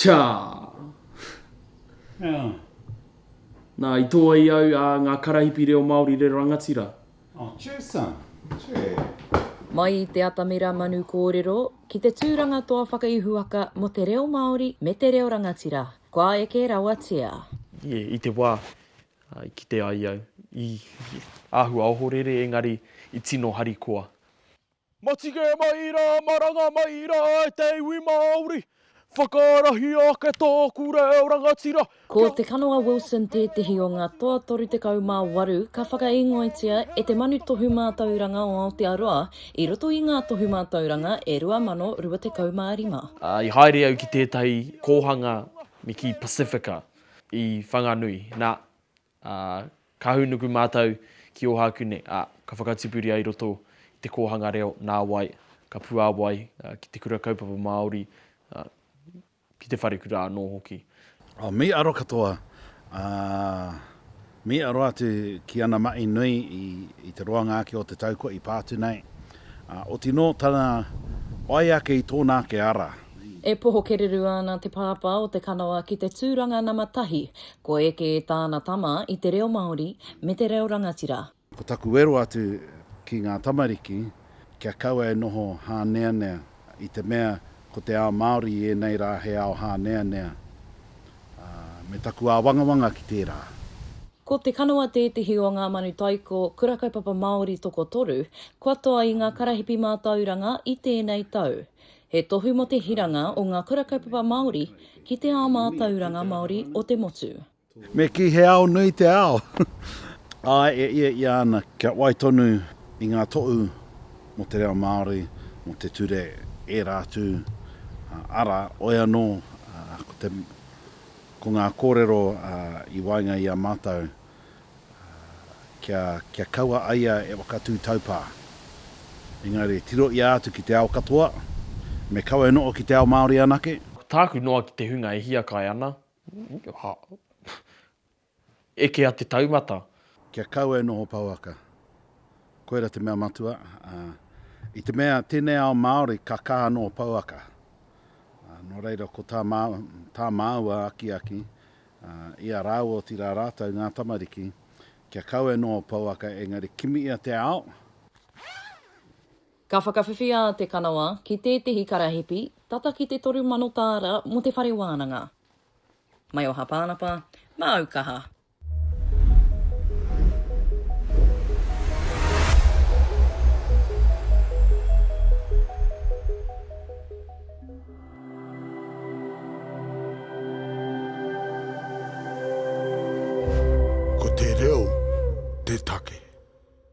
Cha! Yeah. Nā, i tō ai au a ngā karahipi reo Māori reo rangatira. Oh, cheers, son. Cheers. Mai i te atamira manu kōrero, ki te tūranga toa whakaihuwaka mō te reo Māori me te reo rangatira. Kua eke rawatia. Yeah, i te wā. I kite ai au, i āhua ohorere engari i tino harikoa. Matige mai rā, maranga mai rā e te iwi Māori, whakaarahi ake tōku reo rangatira Ko kia. Te Kanoa Wilson tētehi o ngā toa 38 ka whakaīngoatia e Te Manu Tohu Mātauranga o Aotearoa i roto i ngā Tohu Mātauranga e 2025. I haere au ki tētahi kōhanga me kī Pasifika. I Whanganui, nā, ā, ka hūnuku mātou ki Ōhākū nei, ā, ka whakatipuria i roto i te kōhanga reo, nāwai, ka puāwai ki te Kura Kaupapa Māori, ā, ki te wharekura anō hoki. Oh, me aro katoa, ā. Me aro atu ki ana mahi nui i te roanga ake o te tau kua i pā atu nei, ā, oti nō tana whai ake i tōna ake ara. E poho kererū ana te pāpā o te kanoa ki te tūranga nama tahi, ko eke tāna tama i te reo Māori me te reo rangatira. Ko taku wero atu ki ngā tamariki, kia kaua e noho hāneanea. I te mea ko te ao Māori i ēnei rā he ao hāneanea, ā, me taku āwangawanga ki tērā. Ko Te Kanawa tētehi o ngā manu taiko Kura Kaupapa Māori tokotoru kua toa i ngā karahipi mātauranga i tēnei tau. He tohu mō te hiranga o ngā Kura Kaupapa Māori ki te ao mātauranga Māori o te motu. Me kī he ao nui te ao. Āe, e ia ia ana kia wai tonu i ngā tohu mō te reo Māori, mō te ture, ērā atu, arā, oi anō, ko te, ko ngā kōrero i waenga i a mātou, kia, kia kaua a ia e whakatū taupā. Engari, tirohia atu ki te ao katoa, me kawe noho ki te ao Māori anake. Ko tāku noa ki te hunga e hiakai ana, Eke a te taumata. Kia kaua e noho pouaka. Koira te mea matua, ā, i te mea tēnei ao Māori ka kaha noho pouaka, ā, nō reira ko tā mā, tā māua akiaki, ā, i a rāua otirā rātou ngā tamariki, kia kaua e noho pouaka engari kimiia te ao, Ka whakawhiwhi a Te Kanawa ki tētehi karahipi tata ki te toru mano tāra mō te whare wānanga. Mai o Hapānapa, māu kaha. Ko te reo te take.